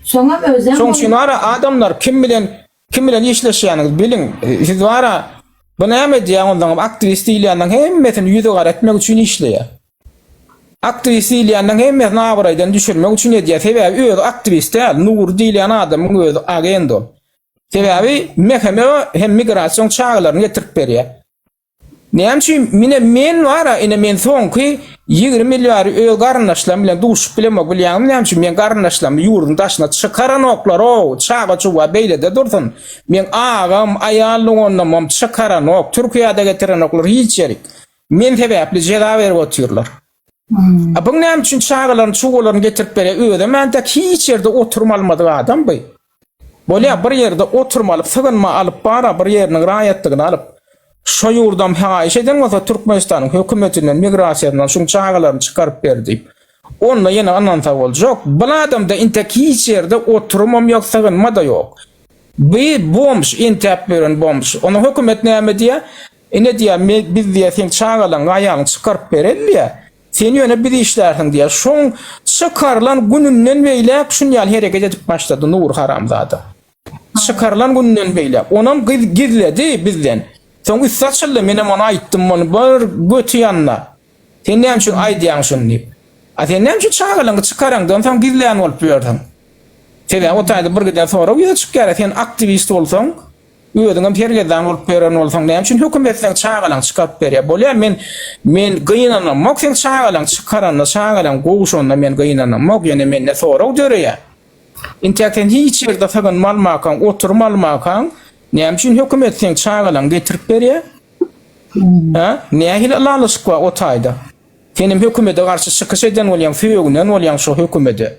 Şoňa özem Şoň üçin wara adamlar kim bilen kim bilen işleşýäniňizi biliň. Siz wara bu näme edýär ondaňam aktiwist diýilýäniň hemmesini ýüzi gara etmek üçin işleýär. Aktiwist diýilýäniň hemmesini abraýdan düşürmek üçin edýär. Sebäbi özi aktiwist däl, Nury diýilýän adamyň özi agent ol. Sebäbi MHM hem migrasion çagalaryny getirip berýär. Näme üçin mine men bar-a, ine men soňky ýigrimi ýyl bäri öz garyndaşlarym bilen duşup bilemok bilýäňmi näme üçin? Men garyndaşlarymy ýurduň daşyna çykaranoklar-ow, çaga-çuga beýlede dursun. Meň agam, aýal doganlarymam çykaranok, Türkiýä-de getirenoklar hiç ýerik. Men sebäpli jeza berip otyrlar. A bu näme üçin çagalaryny, çuwalaryny getirip berýär? Özem entek hiç ýerde oturum almadyk adam bu. Bolýa, bir ýerde oturum alyp, sygynma alyp bar-a, bir ýeriniň raýatlygyny alyp, şo ýurdam haýyş eden bolsa Türkmenistanyň hökümetinden, migrasiýadan şuň çagalaryny çykaryp ber diýip, onda ýene ynansa boljak. Bul adamda entek hiç ýerde oturumam ýok, sygynma-da ýok. Bu bomž, entäp ýören bomž. Onda hökümet näme diýýär? Ene diýýär, Me, biz diýýär, seň çagalaryňy, aýalyňy çykaryp bereli diýýär. Sen ýöne biz işlärsiň diýýär. Şoň çykarylan gününden beýläk şun ýaly hereket edip başlady Nury haramzada. Çykarylan gününden beýläk. Onam gyz gizledi bizden. Soň üsti açyldy, menem ona aýtdym, bir göti ýanyna. Sen näme üçin aýdýaň şuny diýip. A sen näme üçin çagalaňy çykaraňdan soň gizlän bolup ýörsiň? Sebäbi o taýda bir giden sorag ýüze çykýar-a, sen aktiwist bolsaň, özüňem sergezdan bolup ýören bolsaň, näme üçin hökümet seň çagalaňy çykaryp berýär? Bolýa, men men gynanamok seň çagalaňy çykaranyna, çagalaň gowşanyna men gynanamok, ýöne mende sorag döreýär. Intäk sen hiç ýerde sygynmalmakaň, oturmalmakaň, näme üçin hökümet seň çagalaňy getirip berýär? Hä? Nähili ylalaşyk bar o taýda? Senem hökümede garşy çykyş eden bolýaň, sögünen bolýaň şo hökümede.